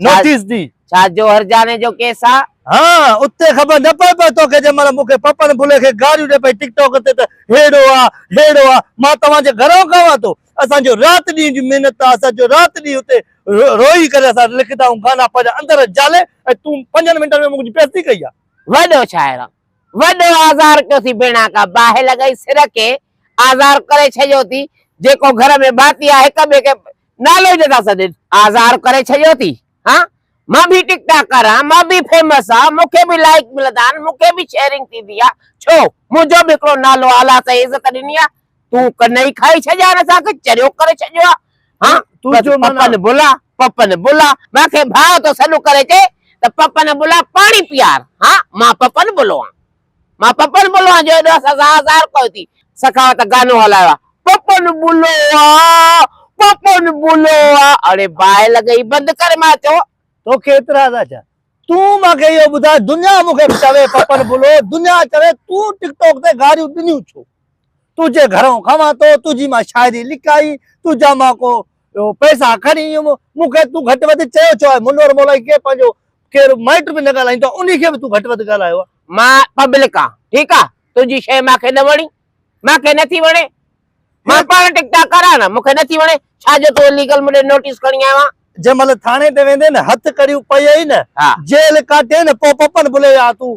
Notice ڏي. ڇا جوهر جاني جو ڪيس آ؟ ها اتي خبر نه پئي پئي توکي جنهن مهل مونکي پپن ڀلي کي گاريون ڏي پئي ٽڪ ٽاڪ تي ته ههڙو آ ههڙو آ مان توهان جي گهران ڪاوان ٿو اسان جو رات ڏينهن جي محنت آ اسان جو رات ڏينهن اتي روئي ڪري اسان لکندا آهيون گانا پنهنجا اندر جالي ۽ تون پنجن منٽن ۾ منهنجي بيعزتي ڪئي آ. وڏو شاعر آ وڏو آزار ڪيو ٿي ڀيڻا ڪا باهه لڳائي سر کي آزار ڪري ڇڏيو ٿي جيڪو گهر ۾ ڀاتي آ هڪ ٻئي کي نالي جو ٿا سڏين. آزار ڪري ڇڏيو ٿي ها مان به ٽڪ ٽاڪ ڪر آهيان مان به فيمس آهيان مون کي به لائيڪ ملندا آهن مون کي به شيئرنگ ٿيندي آهي ڇو منهنجو به هڪڙو نالو آهي الله سائين عزت ڏني آهي تون ڪن ئي کائي ڇڏيا آهن اسان کي چريو ڪري ڇڏيو آهي ها تنهنجو معنيٰ پپن بلا پپن بلا مان کي ڀاء ٿو سڏ ڪري چئي ته پپن بلا پاڻي پيار ها مان پپن بلو آهيان. مان پپن بلوان جو ايڏو سزا هزار ڪوئي ٿي سخاوت گانو هلايو آ پپن بلوا پپن بلوا اڙي باهه لڳئي بند ڪر مان چو. توکي اعتراض آ ڇا تون مان کي اهو ٻڌاء دنيا مون کي چوي پپن بلو دنيا چوي تون ٽڪ ٽوڪ تي گاريون ڏنيون ڇو تنهنجي گهرئون کئان ٿو تنهنجي مان شاعري لکائي تنهنجا مان ڪو پئسا کڻي ويم مون کي تون گهٽ وڌ چيو ڇو آهي منور مولائي کي پنهنجو ڪير مائٽ به نه ڳالهائيندو آ انهي کي به تون گهٽ وڌ ڳالهايو آ. مان پبلڪ آن ٺيڪ آ تنهنجي شيء مان کي نه وڻي مان کي نٿي وڻي مان پاڻ ٽڪ ٽاڪ ڪر آن نه مون کي نٿي وڻي ڇا جو تون اليگل مون ڏي نوٽيس کڻي آيو آن. جنهن مهل ٿاڻي تي ويندين هٿ ڪڙيون پئي نه جيل ڪاٽين پو پپن بلي آ تون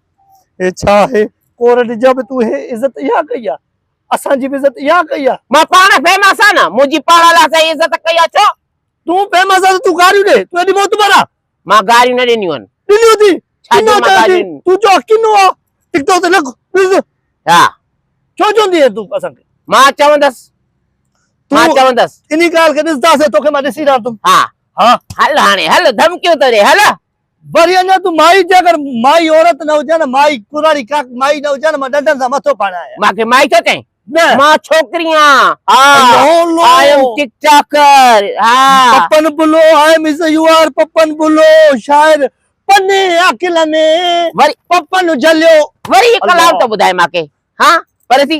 هي ڇا آهي؟ ڪورٽ جا به تو هي عزت اها ڪئي آ؟ اسان جي به عزت اها ڪئي آ؟ مان پاڻ فيمس آ نه منهنجي پاڻ لاء سائين عزت ڪئي آ ڇو؟ تون فيمس آ ته تون گاريون ڏي تون ايڏي معتبر آ؟ مان گاريون نه ڏنيون آهن. ڏنيون ٿي ڇا جو مان گاريون ڏنيون؟ تون چو ڪنو آ ٽڪ ٽاڪ تي لڳ ڏس. ها. ڇو چوندي آهين تون اسان کي؟ مان چوندس مان چوندس. انهي ڳالهه کي ڏسنداسين توکي مان ڏسي رهندم. ها. ها. هل هاڻي هل ڌمڪيون ٿو ڏي هل. وري اڃا تون مائي جي اگر مائي عورت نه هجان ها مائي ڪراڙي ڪاڪ مائي نه هجان ها مان ڏنڊن سان مٿو ڦاڙان ها. مانکي مائي ٿو چئين نه. مان ڇوڪري آهيان ها I am ٽڪٽاڪر ها. Pappan Billu I am is a you are Pappan Billu شاعر پني عاقل ني وري پپن جهليو وري هڪ لاء ته ٻڌاء مانکي ها پر سي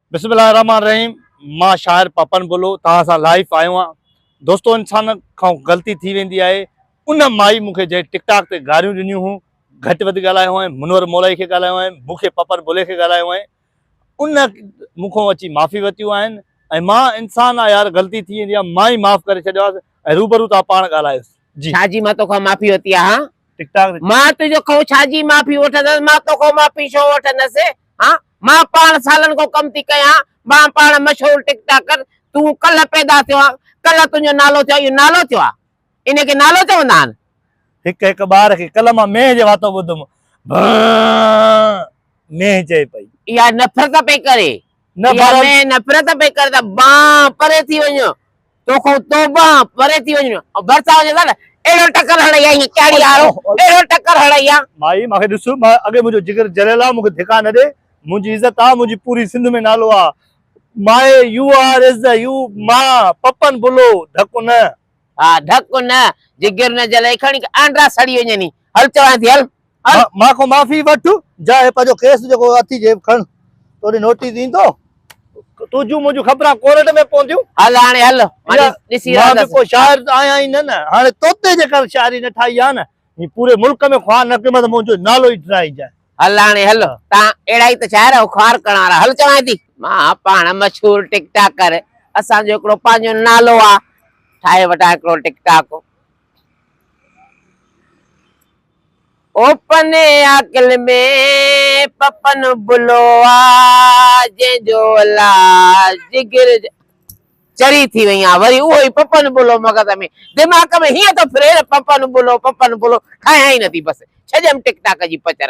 بسم الله الرحمٰن الرحيم مان شاعر پپن بلو توهان سان لائيف آيو آهيان دوستو انسان کان غلطي ٿي ويندي آهي ان مائي مونکي جنهن ٽڪ ٽاڪ تي گاريون ڏنيون هون گهٽ وڌ ڳالهايو هئين منور مولائي کي ڳالهايو هئين مونکي پپن بلي کي ڳالهايو هئين ان مونکو اچي معافي وتيون آهن ۽ مان انسان آ يار غلطي ٿي ويندي آهي مان ئي معاف ڪري ڇڏيو آهي ۽ روبرو توهان پاڻ ڳالهايو جي ڇا جي مان توکان معافي وتي آهان ٽڪ ٽاڪ مان تنهنجو کئون ڇا جي معافي وٺندس مان توکان معافي ڇو وٺندس ھان مان پاڻ سالن کان ڪم ٿي ڪيان مان پاڻ مشھور ٽڪ ٽاڪر تون ڪلھ پيدا ٿيو آھين ڪلھ تنھنجو نالو ٿيو اھو نالو ٿيو آ انھي کي نالو چوندا آھن. ھڪ ھڪ ٻار کي ڪلھ مان مينھن جي واتو ٻڌم بانء مينھن چئي پئي. اھا نفرت پئي ڪري اھا مينھن نفرت پئي ڪري ته بانء پري ٿي وڃ توکان توبه آن پري ٿي وڃ ۽ ڀرسان هجي ته اهڙو ٽڪر هڻئي ها ايئن ڪهڙي آرو اهڙو ٽڪر هڻئي ها. مائي مون کي ڏس اڳي منهنجو جگر جليل آ مون کي ڌڪا نه ڏي منهنجي عزت آ منهنجي پوري سنڌ ۾ نالو آ my you are is the you ماء پپن بلو ڌڪ نه. ها ڌڪ نه جگر نه جلئي کڻي آنڊا سڙي وڃن هي هل چوانء ٿي هل. مان کان معافي وٺ جا هي پنهنجو ڪيس جيڪو اٿي جيب کڻ توڏي نوٽيس ايندو تنهنجون منهنجون خبران ڪورٽ ۾ پونديون هل هاڻي هل مان ڏسي رهندس مان به ڪو شاعر آهيان ئي نه نه هاڻي توتي جي ڪر شاعري نه ٺاهي آ نه هي پوري ملڪ ۾ خواه نه ڪي مت منهنجو نالو ئي ڊرائجي هل هاڻي هل تان اهڙا ئي ته شاعر آهو خوار ڪرڻ وارا هل چوانء ٿي مان پاڻ مشهور ٽڪ ٽاڪر اسان جو هڪڙو پنهنجو نالو آ ٺاهي وٺان هڪڙو TikTok. Open Aqil ۾ Pappan Billu آ جنهن جو الا جگر چري ٿي وئي آ وري اهو ئي پپن بلو مغز ۾ دماغ ۾ هيئن ٿو ڦري نه پپن بلو پپن بلو ٺاهيان ئي نٿي بس ڇڏيم ٽڪ ٽاڪ جي پچر.